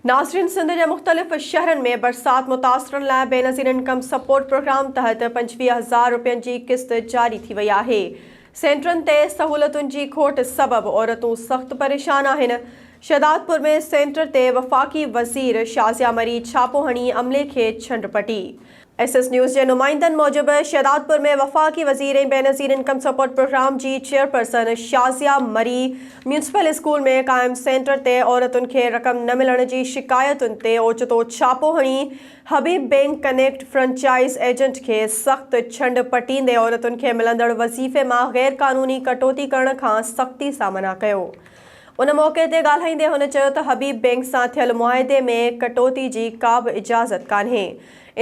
ناظرين سنڌ جي مختلف شهرن ۾ برسات متاثرن لاء بينظير انڪم سپورٽ پروگرام تحت پنجويهه هزار روپين جي قسط جاري ٿي وئي آهي سينٽرن تي سهولتن جي کوٽ سبب عورتون سخت پريشان آهن شهدادپور ۾ سينٽر تي وفاقي وزير شازيا مري ڇاپو هڻي عملي کي ڇنڊ پٽي ايس ايس نيوز جي نمائندن موجب شهدادپور ۾ وفاقي وزير ۽ بينظير انڪم سپورٽ پروگرام جي chairperson Shazia Marri municipal school ۾ قائم سينٽر تي عورتن کي رقم نه ملڻ جي شڪايتن تي اوچتو ڇاپو هڻي Habib bank connect franchise agent کي سخت ڇنڊ پٽيندي عورتن کي ملندڙ وظيفي مان غيرقانوني ڪٽوتي ڪرڻ کان سختي سان منع ڪيو ان موقعي تي ڳالهائيندي هن چيو ته حبيب بينڪ سان ٿيل معاهدي ۾ ڪٽوتي جي ڪابه اجازت ڪانهي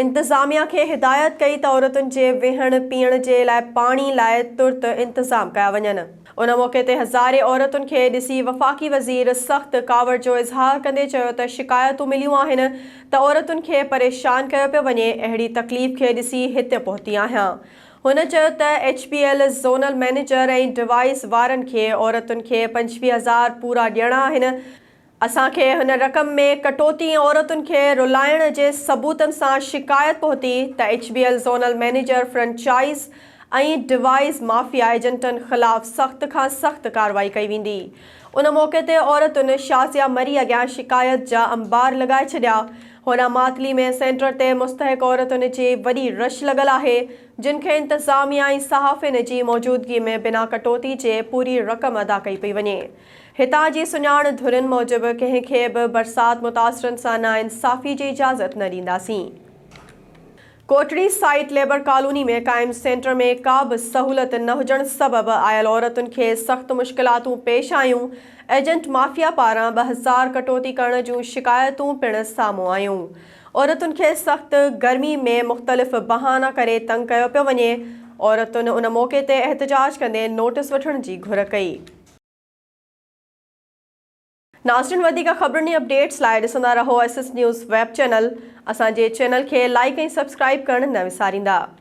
انتظاميا کي هدايت ڪئي ته عورتن جي ويهڻ پيئڻ جي لاء پاڻي لاء ترت انتظام ڪيا وڃن. ان موقعي تي هزارين عورتن کي ڏسي وفاقي وزير سخت ڪاوڙ جو اظهار ڪندي چيو ته شڪايتون مليون آهن ته عورتن کي پريشان ڪيو پيو وڃي اهڙي تڪليف کي ڏسي هت پهتي آهيان هن چيو ته H P L zonal manager ۽ device وارن کي عورتن کي پنجويهه هزار پورا ڏيڻا آهن اسان کي هن رقم ۾ ڪٽوتي ۽ عورتن کي رلائڻ جي ثبوتن سان شڪايت پهتي ته H B L zonal manager franchise ۽ devices mafia ايجنٽن خلاف سخت کان سخت ڪارروائي ڪئي ويندي ان موقعي تي عورتن شازيا مري اڳيان شڪايت جا انبار لڳائي ڇڏيا هوڏانهن ماتلي ۾ سينٽر تي مستحق عورتن جي وڏي رش لڳل آهي جن کي انتظاميا ۽ صحافين جي موجودگي ۾ بنا ڪٽوتي جي پوري رقم ادا ڪئي پئي وڃي. هتان جي سڃاڻ ڌرين موجب ڪنهن کي به برسات متاثرن سان ناانصافي جي اجازت نه ڏينداسين. ڪوٽڙي سائيٽ ليبر ڪالوني ۾ قائم سينٽر ۾ ڪا به سهولت نه هجڻ سبب آيل عورتن کي سخت مشڪلاتون پيش آيون، ايجنٽ مافيا پاران ٻه هزار ڪٽوتي ڪرڻ جون شڪايتون پڻ سامهون آيون، عورتن کي سخت گرمي ۾ مختلف بهانا ڪري تنگ ڪيو پيو وڃي، عورتن ان موقعي تي احتجاج ڪندي نوٽس وٺڻ جي گهر ڪئي. ناظرين وڌيڪ خبرن ۽ اپڊيٽس لاء ڏسندا رهو S S news web channel اسان جي چينل کي لائيڪ ۽ سبسڪرائيب ڪرڻ نه وساريندا.